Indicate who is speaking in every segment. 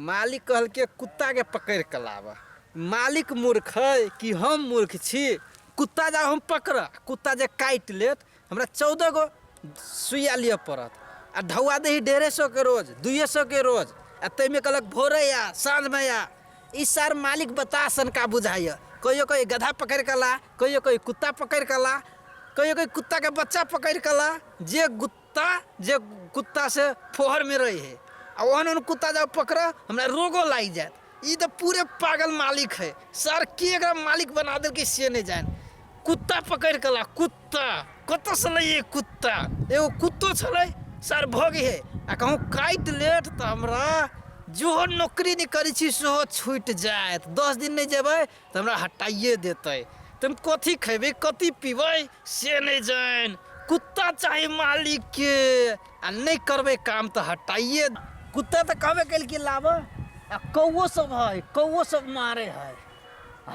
Speaker 1: मालिक कहलके कुत्ता के पकड़ के लाब मालिक मूर्ख है कि हम मूर्ख छी कुत्ता जा हम पकड़ कुत्ता जे काट लेत हमरा चौदह गो सुइया लिए पड़त आ ढौआ दही डेढ़े सौ के रोज दुए सौ के रोज आ तैमे कहलक भोरे या साँझ में या ई सार मालिक बता सन का बुझाइय कहियो कहीं गधा पकड़ के ला कहियो कहीं कुत्ता पकड़ के ला कहियो कहीं कुत्ता के बच्चा पकड़ के ला जे गुत- कुत्ता जे कुत्ता से फोहर में रहे है आ ओहन ओहन कुत्ता जब पकड़ हमरा रोगो लाग जायत ई तो पूरे पागल मालिक है सर के एकरा मालिक बना दे कि से नहीं जाए कुत्ता पकड़ कला कुत्ता कत से लइए कुत्ता एगो कुत्तो छलै सर भोग है आ कहूँ काटि लेत तऽ हमरा जेहो नौकरी नहि करै छी सेहो छूटि जायत दस दिन नहि जेबै तऽ हमरा हटाइए देतै तऽ हम कथी खयबै कथी पीबै से नहि जानि कुत्ता चाही मालिकके आ नहि करबै काम तऽ हटाइए कुत्ता तऽ कहबे कल कि लाबऽ आ कौओ सब है कौओ सब मारे है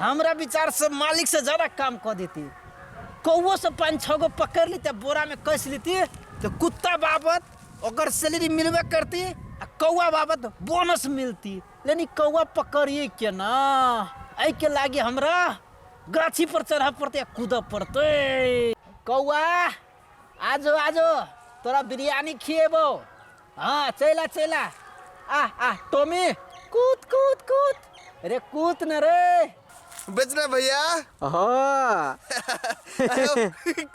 Speaker 1: हमरा विचार से मालिक से ज्यादा काम कऽ देती कौओ सब पाँच छः गो पकड़ लेते बोरा में कस लेती तो कुत्ता बाबत ओकर सैलरी मिलबे करती आ कौआ बाबत बोनस मिलती लेनी कौआ पकड़िए केना एहिके लागि हमरा गाछी पर चढ़ऽ पड़तै आ कूदऽ पड़तै कौआ आजो आजो तोरा बिरयानी खिएबो हँ चैला चैला आह आह टोमी कूद कूद कूद रे कूद न रे बेचना भैया
Speaker 2: हाँ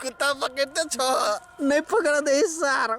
Speaker 2: कुत्ता पकड़ते छो नहीं पकड़ा
Speaker 1: दे सार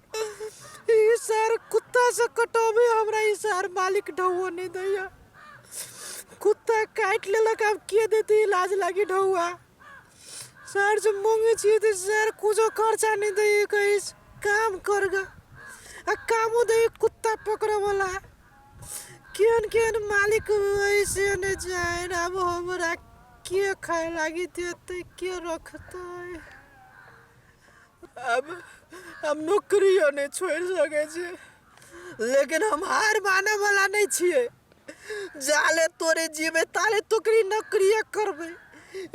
Speaker 3: ई सर कुत्ता से कटोबे हमरा ई सर मालिक ढौआ नहीं दैया कुत्ता काट लेलक अब के देते इलाज लागी ढौआ सर से मांगे छी तो सर कुछो खर्चा नहीं दे कहीं काम करगा आ कामो दे कुत्ता पकड़े वाला केहन केहन मालिक ऐसे नहीं जाए अब हमरा के खाए लागी देते के रखते अब हम नौकरियो नहि छोड़ि सकै छी लेकिन हम हार माने वाला नहि छियै जाले तोरे जीवे ताले तोकरी नौकरिये करबै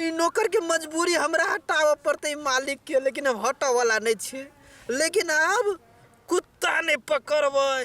Speaker 3: ई नौकर के मजबूरी हमरा हटाबऽ पड़तै मालिक के लेकिन हम हटऽ वाला नहि छियै लेकिन आब कुत्ता नहि पकड़बै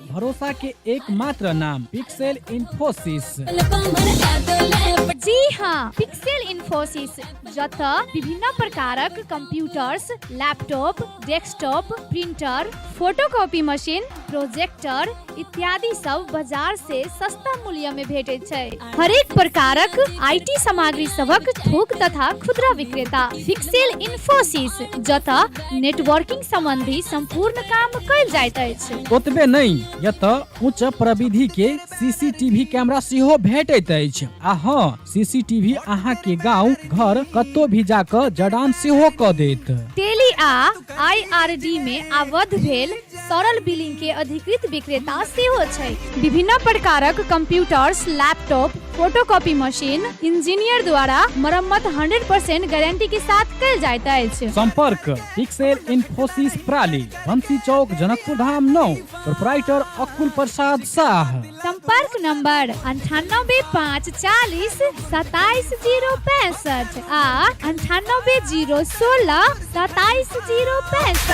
Speaker 4: भरोसा के एकमात्र नाम पिक्सेल इन्फोसिस
Speaker 5: जी हाँ पिक्सेल इन्फोसिस जत विभिन्न प्रकारक computers laptop desktop printer photocopy machine projector इत्यादि सब बाजार से सस्ता मूल्य में भेटे छै हरेक प्रकारक आईटी सामग्री सबक थोक तथा खुदरा विक्रेता पिक्सेल इन्फोसिस जत नेटवर्किंग संबंधी संपूर्ण काम कयल जाइत अछि ओतबे नहि
Speaker 4: एतय उच्च प्रविधि के सीसीटीवी कैमरा सेहो भेटैत अछि आ हँ सीसीटीवी अहाँ के गांव घर कतौ भी जाकर जड़ान सेहो क देत टेली आ
Speaker 5: आईआरडी में आबद्ध भेल तरल बिलिंग के अधिकृत विक्रेता सेहो छै विभिन्न प्रकारक computers laptop photocopy machine engineer द्वारा मरम्मत 100% गारंटी के साथ कल जाइत अछि संपर्क पिक्सेल
Speaker 4: इन्फोसिस प्राली बंसी चौक जनकपुर धाम नौ प्रोपराइटर अकुल प्रसाद शाह संपर्क
Speaker 5: नंबर अंठानबे पाँच चालीस सताइस जीरो पैंसठ आ अंठानबे जीरो सोलह सताइस जीरो पैंसठ